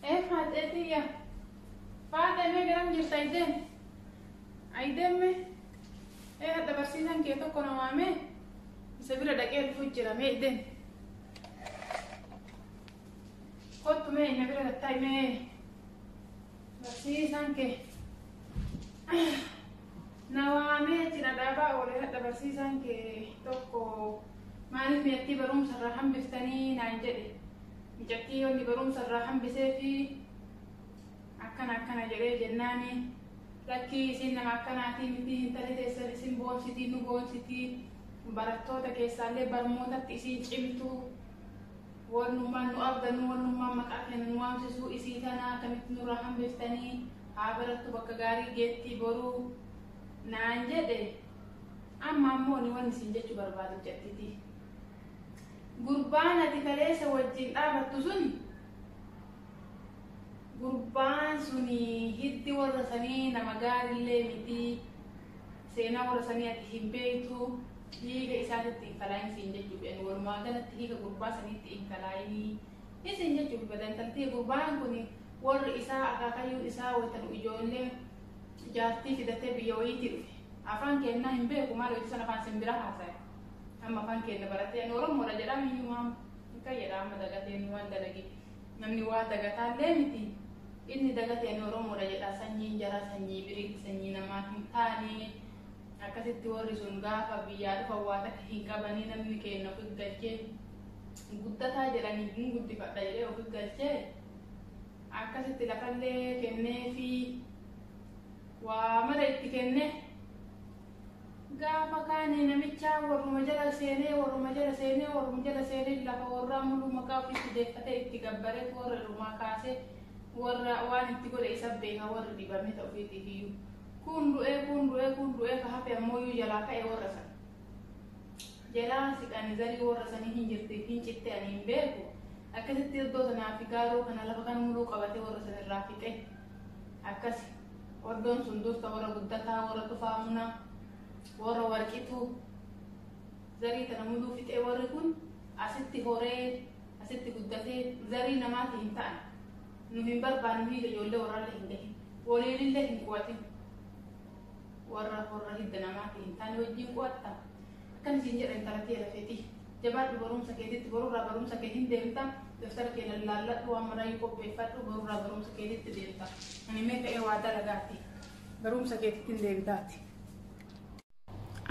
Ee faaxee tiyya. Faaxee mee garam jirta aydeen? Aydeen mee? Ee hadha barsiisan kee tokko na waamee? Isa bira dhaqee dhufu jira mee aydeen? Kottu mee na bira gattaay mee? Barsiisan kee. Na waamee achi na dhaabaa oole hadha barsiisaan kee tokko maaliif miyattii barumsa irraa hambiftanii naan jedhe. Micattii yoonni barumsa irraa hambisee fi akkana akkana jedhee jennaani lakkii isin nama akkanaatii miti intali teessan isin boonsitii nu boonsitii barattoota keessaallee barmootatti isin cimtuu Wannummaan nu abdannu, wannummaan maqaa keenya nu waamsisu isii tana akkamitti nurraa hambiftanii? Haa barattu bakka gaarii geettii boru naan jedhe. Amma ammoo ni wanni isin jechu barbaadu jattiti. Gurbaan ati kaleessa wajjin dhaabattu sun gurbaan suni hiddi warra sanii nama gaarillee miti. Seenaa warra sanii ati hin beeytuu dhiiga isaatitti hin kalaayin siin jechuuf yani walumaa galatti dhiiga gurbaa saniitti hin kalaayinii isiin jechuuf bada intaltii gurbaan kun warri isaa akaakayyuun isaa wayta nu ijoollee jaartii fidatee biyya wayiitii dhufe afaan keennaa hin beeku maal hojii san afaan sin bira haasaya amma afaan keenna baratee ani oromoodha jedhaa miyyumaa hin qayyadha amma dagatee waan dalagee Namni waa dagataallee miti. Inni dagateen Oromoodha jedha. Sanyiin jaraa sanyii biriiti, sanyii namaa hin taane. Akkasitti warri sun gaafa biyyaa dhufan waa takka hin qabanii namni keenna ofi galchee guddataa jedhanii hin guddifadha jedhee ofi galchee akkasitti lafallee kennee fi waa mara itti kenne. Gaafa kaani namichaa warruma jala seenee warruma jala seenee warruma jala seenee lafa warraa muluu maqaa ofiitti deeffatee itti gabbareet warra irumaa kaasee warra waan itti godhe isa beeka warri dhibamee ta ofiitiifiyyuu kuun du'ee kuun du'ee kuun du'ee ka hafe ammooyyuu jalaa ka'e warra san jalaa siqani zarii warra sanii hin jirti hin citte ani hin beeku akkasitti iddoo sanaa fi gaaroo kana lafa kan muluu qabatee warra san irraa fixe akkasi Oddoon sun dursa warra guddataa, warra tufaa muna, warra warqituu zarii tana muduu fixee warri kun asitti horee asitti guddatee zarii namaati hin ta'an. Nu hin barbaannu hiida ijoollee warraallee hin gahin. Waliinillee hin qo'atin. Warra horra hidda namaati hin taane wajjin qo'atta. Akkan isin jedha intala tee lafeetii. Jabaadhu barumsa keetitti borurraa barumsa kee hin deemta. Daftara kee lallaalladhu waan maraayyuu qopheeffadhu borurraa barumsa keetitti deemta. Ani mee ka'ee waa dalagaati. Barumsa keetitti hin deebitaati.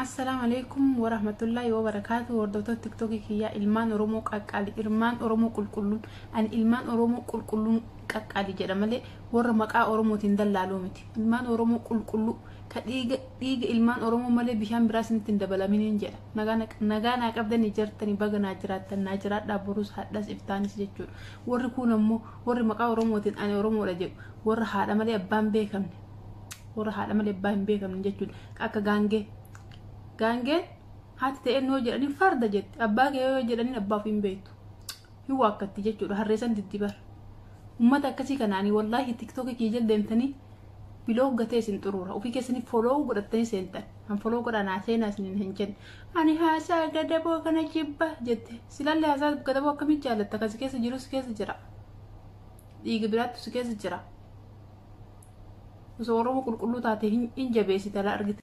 Assalaamu alaikum warahmatullaahi wabarakaatu hordoftoota tiktookii kiyyaa ilmaan oromoo qaqqaali ilmaan oromoo qulqulluun ani ilmaan oromoo qulqulluun qaqqaali jedha malee warra maqaa oromootiin dallaaluu miti ilmaan oromoo qulqulluu ka dhiiga dhiiga ilmaan oromoo malee bishaan biraa isinitti hin dabalaminiin jedha nagaa na- nagaa naa qabdanii jartanii baga naa jiraattan naa jiraadhaa borus hadhas iftaanis jechuudha warri kuun ammoo warri maqaa oromootiin ani oromoodha jedhu warra haadha malee abbaan beekamne warra haadha malee abbaa hin beekamne jechuudha ka akka gaangee gaangeen haati ta'een yoo jedhanii farda jetti abbaa kee yoo jedhanii abbaa ofii hin beektu hin waakkatti jechuudha harreesan diddibar ummata akkasii kanaanii wallaahi tiktookii kiyya jala deemtanii biloog gatee isin xuruura ofii keessanii foloo godhattanii seentan kan foloo godhaa naa seenaa isinin hin jenne ani haasaa gadaboo kana jibba jette silalle haasaa gadaboo akkamii jaalatta kan si keessa jiru si keessa jira dhiiga biraattu si keessa jira osoo oromoo qulqulluu taate hin jabeessita argite